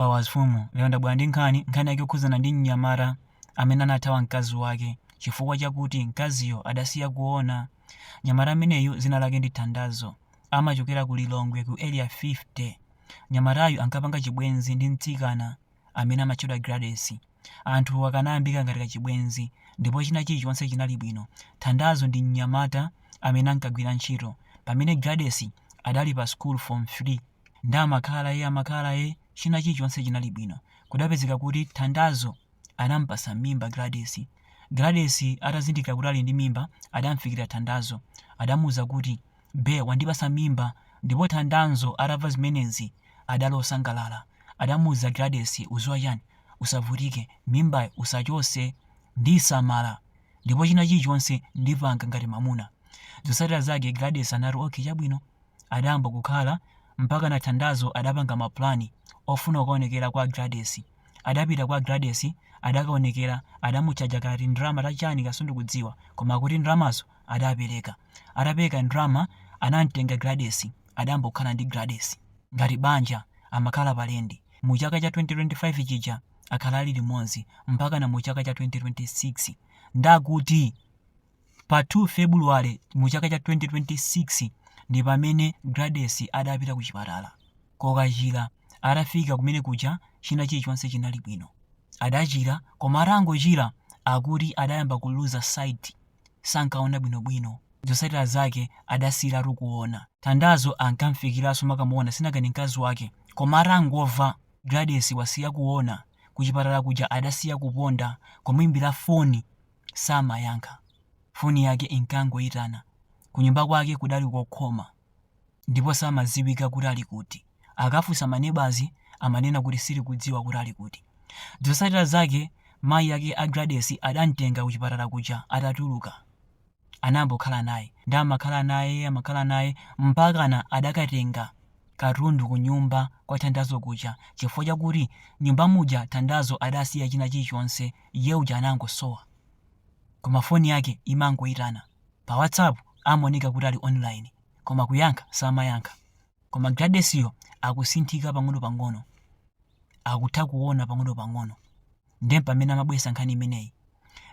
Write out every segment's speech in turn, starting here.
Pa Wazifumu lero ndabwera ndi nkhani, nkhani yake yokhudzana ndi mnyamata amene anathawa mkazi wake chifukwa chakuti mkaziyo adasiya kuona. Mnyamata ameneyu dzina lake ndi Thandazo, amachokera ku Lilongwe ku Area 50. Mnyamatayu ankapanga chibwenzi ndi mtsikana amene amatchedwa Gladys. Anthu akanayambika ngati kachibwenzi ndipo china chilichonse chinali bwino. Thandazo ndi mnyamata amene ankagwira ntchito pamene Gladys adali pa sukulu form 3. nde amakhala amakhala china chilichonse chinali bwino kudapezeka kuti thandazo adampasa mimba Gladys Gladys atazindikira kuti ali ndi mimba adamfikira thandazo adamuuza kuti be wandipasa mimba ndipo thandazo atamva zimenezi adali osangalala adamuuza Gladys uziwa chani usavutike mimbayo usachose ndiisamala ndipo china chilichonse ndipanga ngati mamuna zotsatira zake Gladys anati okay chabwino adayamba kukhala mpakana Thandazo adapanga ma plan ofuna kukaonekera kwa Gladys. Adapita kwa Gladys adakaonekera adamutchaja kati ndalama ta chani ka sindikudziwa koma kuti ndalamazo adapereka. Atapereka ndalama anamtenga Gladys adayamba kukhala ndi Gladys ngati banja amakhala pa lendi. Mu chaka cha 2025 chija akhala ali limodzi mpakana mu chaka cha 2026. Ndakuti! Pa 2 February mu chaka cha 2026 ndi pamene Gladys adapita ku chipatala kokachira. Atafika kumene kuja china chilichonse chinali bwino. Adachira koma atangochira akuti adayamba kuluza sight, sankaona bwinobwino. Zotsatira zake adasiyiratu kuona. Thandazo ankamfikiranso amakamuona sinangani mkazi wake koma atangomva Gladys wasiya kuona, kuchipatala kuja adasiya kuponda kumuimbira foni samayankha. Foni yake inkangoitana. Kunyumba kwake kudali kokhoma ndipo samadziwika kuti ali kuti. Akafunsa manebazi amanena kuti sitikudziwa kuti ali kuti. Zotsatira zake mayi yake a Gladys adamtenga kuchipatala kuja atatuluka. Anayamba kukhala naye. Ndiye amakhala naye, amakhala naye mpakana adakatenga katundu kunyumba kwa Thandazo kuja chifukwa chakuti nyumba muja Thandazo adasiya china chilichonse iye uja anangosowa. Koma foni yake imangoitana. Pa WhatsApp amaoneka kuti ali online, koma kuyankha samayankha. Koma Gladys yo akusinthika pang'onopang'ono. Akutha kuona pang'onopang'ono. Ndiye mpamene amabweretsa nkhani imeneyi.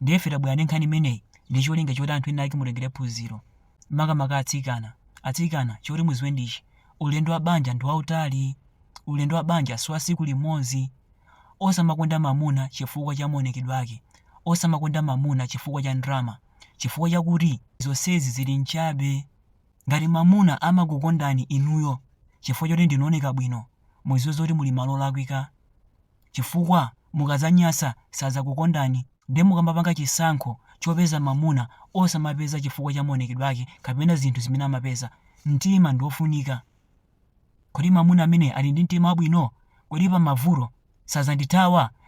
Ndiye ife tabwera ndi nkhani imeneyi ndi cholinga choti anthu ena ake mutengere phunziro. Makamaka atsikana. Atsikana, choti muziwe ndi ichi, ulendo wa banja ndi wautali. Ulendo wa banja si wa tsiku limodzi. Osamakonda mamuna chifukwa cha maonekedwe ake, osamakonda mamuna chifukwa cha ndrama, chifukwa chakuti zonsezi zili nchabe. Ngati mamuna amakukondani inuyo chifukwa choti ndinu ooneka bwino, muziwe zoti muli malo olakwika chifukwa mukazanyasa sazakukondani nde mukamapanga chisankho chopeza mamuna osamapeza chifukwa cha maonekedwe ake kapena zinthu zimene amapeza, mtima ndiofunika. Kodi mamuna amene ali ndi mtima wabwino, kodi pamavuto sazandithawa?